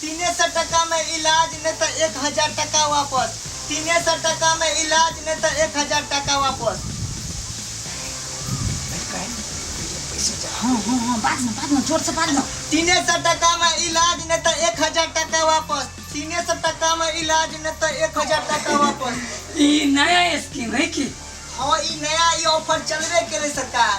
तीने सए टका मे इलाज नै त एक हजार टका वापस तीने सए टका मे इलाज नै त एक हजार टका वापस। हाँ हाँ हाँ बाज न बाज न जोर से बाज न तीने सौ टका में इलाज नहीं तो एक हजार टका वापस तीने सौ टका में इलाज नहीं तो एक हजार टका वापस ई नया स्कीम है कि हाँ ई नया ई ऑफर चलबे करे सरकार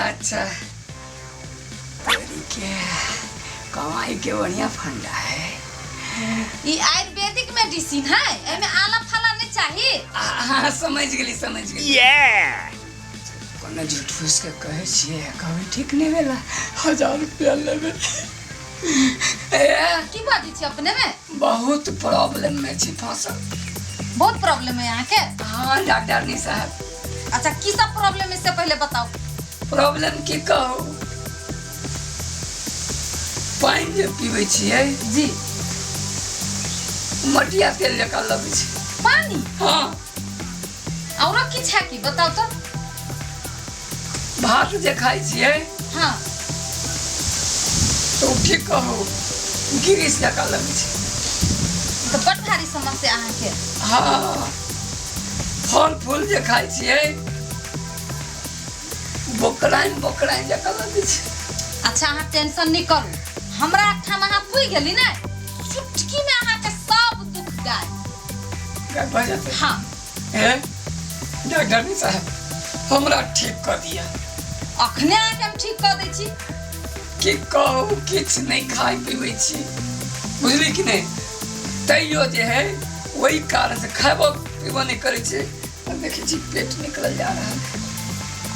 अच्छा के कमाई के बढ़िया फंडा है ई आयुर्वेदिक मेडिसिन है एमे आला फाला नहीं चाहिए आ, हाँ समझ गेली समझ गेली कोनो झूठ फूस के कहे छिए कभी ठीक नहीं भेला हजार रुपया लेबे ए, की बात छी अपने में बहुत प्रॉब्लम में छी फसल बहुत प्रॉब्लम है यहाँ के हाँ डॉक्टर नी साहब अच्छा की सब प्रॉब्लम इससे पहले बताओ प्रॉब्लम की कहू पानि जे पीबै छियै जी मटिया तेल जकाँ लगै छै पानी हँ औरो किछ है की बताओ तो भात जे खाइ छियै हाँ तऽ ओ की कहू गिरीश जकाँ लगै छै तो बड़ भारी समस्या अहाँ के हँ फल फूल जे खाइ छियै बोकराइन बोकराइन जकाँ लगै छै अच्छा अहाँ टेंशन नहीं करू हमरा ठाम अहाँ पुइ गेली ने चुटकी में अहाँ के सब दुख गाय का भऽ जेतै हाँ हैं डॉक्टर साहब हमरा ठीक कर दिया अखने अहाँ के हम ठीक कर दै छी कि कहू किछु नहि खाइ पीबै छी बुझली कि नहि तैयो जे है ओहि कारण से खाबो पीबो नहि करै छै हम देखै छी पेट निकल जा रहल है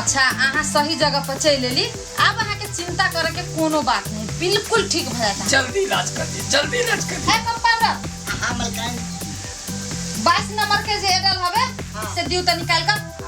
अच्छा अहाँ सही जगह पर चलि एली आब अहाँके चिंता करे के कोनो बात नहीं बिल्कुल ठीक भऽ जाता जल्दी इलाज कर दी जल्दी इलाज कर दी है कंपाउंडर हाँ मलकान बाईस नंबर के जे एडल हवे हाँ। से दियो तो निकाल कर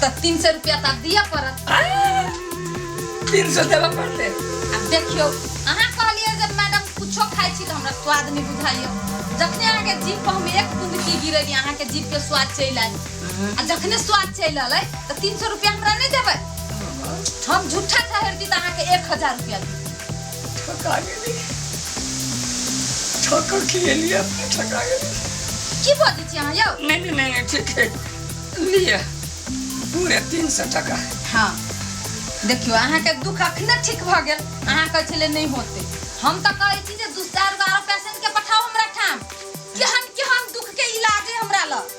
तऽ तीन सौ रुपया तऽ आब दिअ पड़त तीन सौ देबऽ पड़तै आब देखियौ अहाँ कहलियै जे मैडम कुछो खाइ छी तऽ हमरा स्वाद नहि बुझाइए जखने अहाँके जीभ पर हम एक बूंद की गिरेली अहाँके जीभ के स्वाद चलि आयल आ जखने स्वाद चलि आयल तऽ तीन सौ रुपया हमरा नहि देबै हम झूठा ठहरती तऽ अहाँके एक हजार रुपया दी ठका गेली ठका खिएलिए अपने ठका गेली की बजै छी अहाँ यौ नहीं नहीं नहीं नहीं, ठीक है लिए पूरे तीन सौ टका हाँ देखियो अहाँ के दुख अखने ठीक भ गेल अहाँ कहै छले नहीं होते हम तो कहै छी जे दू चार गो आरो पेशेंट के पठाओ हमरा ठाम केहन केहन दुख के इलाज है हमरा लग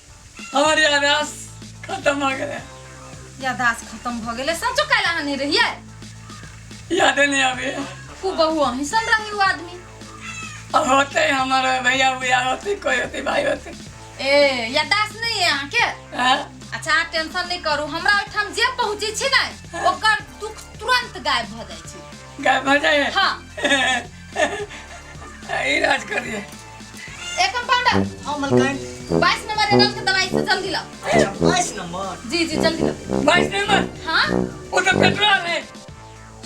हमर यादाश खत्म भऽ गेलै यादाश खत्म भऽ गेलै सचो काल्हि अहाँ नहि रहियै यादे नहि आबैए खूब बहु अहीं सन रही ओ आदमी अब होते हमर भैया भैया होते कोई होते भाई होते ए यादाश नहि है अहाँके हाँ? अच्छा अहाँ टेंशन नहि करू हमरा ओहिठाम जे पहुँचै छी ने ओकर दुख तुरंत गायब भऽ जाइ छै गायब भऽ जाइए हाँ ई राज करिए ए कंपाउंडर हां मलकाई 22 नंबर के दस के दवाई से जल्दी ला अच्छा बाईस नंबर जी जी जल्दी ला बाईस नंबर हाँ वो तो पेट्रोल है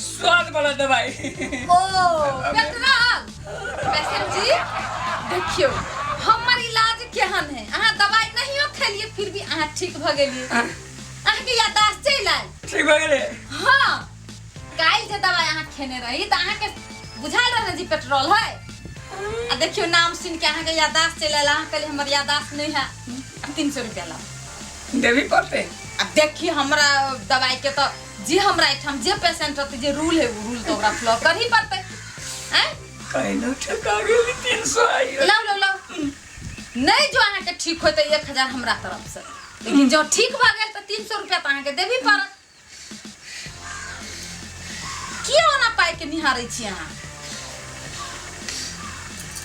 स्वाद वाला दवाई ओ पेट्रोल पेशेंट जी देखियो हमर इलाज केहन है अहाँ दवाई नहीं हो खेलिए फिर भी अहाँ ठीक भ गेलिए अहाँ के याददाश्त चलि आयल ठीक भऽ गेलै हाँ काल्हि जे दवाइ अहाँ खेने रही तऽ अहाँके बुझायल रहने जे पेट्रोल है आ देखियो नाम सुन के अहाँके यादाश्त चलि आयल अहाँ कहली हमर यादाश्त नहीं है अब तीन सौ रुपया लाओ देवी पड़ते अब देखिए हमरा दवाई के तो जे हमरा एठाम जे पेशेंट रहते जे रूल है वो रूल तो ओकरा फ्लो कर ही पड़ते हैं कहीं ना ठका गेली तीन सौ आइयो लाओ लाओ लाओ नहीं जो अहाँके ठीक होते एक हजार हमरा तरफ से लेकिन जो ठीक भऽ गेल तऽ तीन सौ रुपया तऽ अहाँके देबी पड़त के निहारे छी अहाँ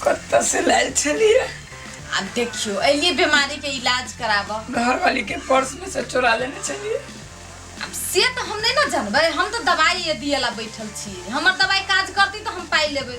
कत्ता से लायल छलिए आ देखियो एलिए बीमारी के इलाज कराबऽ घर वाली के पर्स में से चोरा लेने छलिए अब से तो हम नहीं ना जानबे हम तो दवाई ये दिए ला बैठल छी हमर दवाई काज करती तो हम पाई लेबे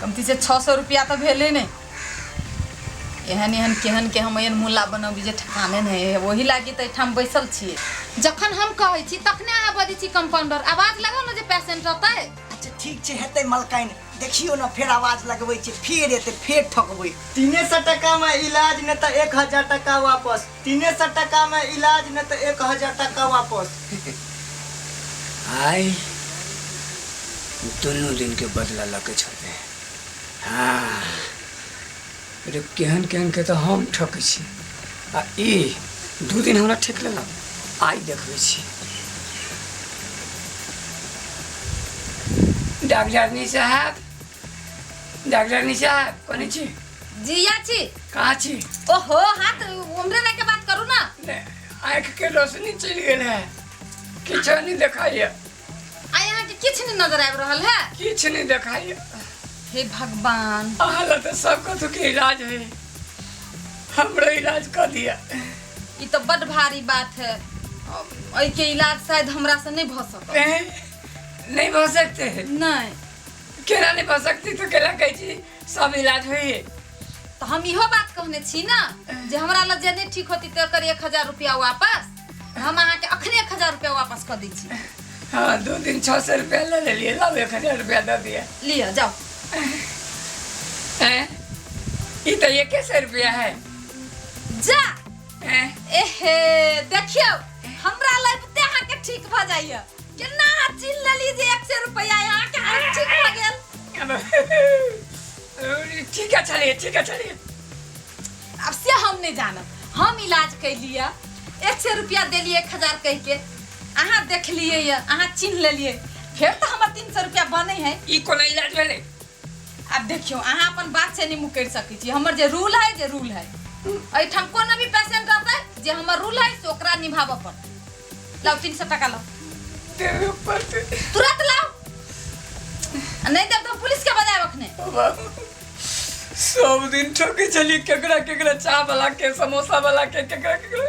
कमती से छओ सए रुपया तऽ भेलै ने एहन एहन केहन के हम एहन मुला बनबी जे ठेकाने नहि है ओही लागी तऽ एहिठाम बैसल छियै जखन हम कहै छी तखने अहाँ बजै छी कंपाउंडर आवाज लगाउ ने जे पेशेंट रहतै अच्छा ठीक छै हेतै मलकाइन देखियो ने फेर आवाज लगबै छै फेर एतै फेर ठकबै तीने सए टका में इलाज ने तऽ एक हजार टका वापस तीने सए टका मे इलाज नै त एक हजार टका वापस। आइ दुनू दिन के बदला ल क छोड़बै। हाँ रे केहन केहन के त हम ठकै छी आ इ दू दिन हमरा ठेक लेलक। आइ देखबै छी। डाक्टरनी साहेब डाक्टरनी साहेब कने छी? जी आछी। का छी ओहो हाथ उमरे रह के बात करू ना ने आँख के रोशनी चल गेल है किछ नहीं देखाइए आ यहाँ के किछ नहीं नजर आबि रहल है किछ नहीं देखाइए हे भगवान अहाँ लग तो सब कथु के इलाज है हमरो इलाज कर दिया ई तो बड भारी बात है एहि के इलाज शायद हमरा से नहीं भ सकत ए, नहीं हो सकते है नहीं केना नहीं हो सकती तो केना कहै छी सब इलाज होई है तो हम इहो बात कहने छी ना जे हमरा लग जे नहीं ठीक होती तो कर एक हजार रुपया वापस हम अहाँ के अखने एक हजार रुपया वापस कर दी छी हाँ दो दिन छः सौ रुपया ले ले लिए लाओ एक हजार रुपया दे दिया लिया जाओ हैं? ये तो एक सौ रुपया है जा हैं? एहे देखियो हमरा लग ते अहाँ के ठीक भ जाइए केना हाथ छीन लेली जे 100 रुपया यहाँ के हाथ ठीक हो गेल ठीक है चलिए ठीक है चलिए अब से हम नहीं जानब हम इलाज कैलिए एक सौ रुपया दिलिए एक हजार कह के अहाँ देखलिए अहाँ चिन्ह लेलिए फिर तो हमार तीन सौ रुपया बने है ई कोना इलाज भेलै आब देखियौ अहाँ अपन बात से नहि मुकरि सकै छी हमर जे रूल है जे रूल है एहिठाम कोनो भी पेशेंट रहतै जे हमर रूल है से ओकरा निभाबऽ पड़तै लाउ तीन सौ टका लाउ देवे पड़ते तुरंत लाओ आ नहीं देब तो पुलिस के बजाय रखने बाबू सब दिन ठोके चली केकरा केकरा चाह वाला के समोसा वाला के केकरा केकरा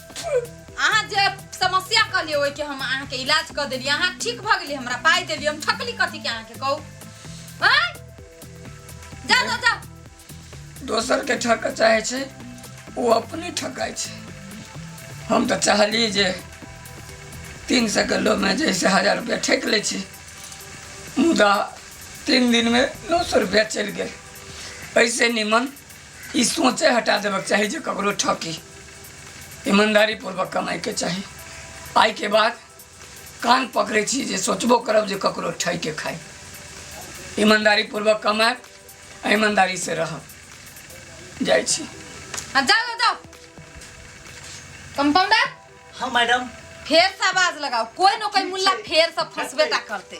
अहाँ जे समस्या कहलिए ओहि के हम अहाँ के इलाज कर देली अहाँ ठीक भ गेली हमरा पाई देली हम ठकली कथी के अहाँ के कहू हैं? जा जा जा दोसर के ठक चाहे छै ओ अपने ठकाइ छै हम तऽ चाहली जे तीन सए किलोमे जैसे हजार रुपया ठेक लै छी मुदा तीन दिनमे नौ सए रुपया चलि गेल ऐसे निमन ई सोचे हटा देबक चाही जे ककरो ठकी ईमानदारी पूर्वक कमाई के चाही आइ के बाद कान पकड़े छी जे सोचबो करब जे ककरो ठक के खाई ईमानदारी पूर्वक कमाएब आ ईमानदारी से रहब जाइ छी आ, जाओ जाओ, जाओ कंपाउंडर हाँ मैडम फेर से आवाज लगाओ कोई न कोई मुल्ला फेर से फंसबे टा करते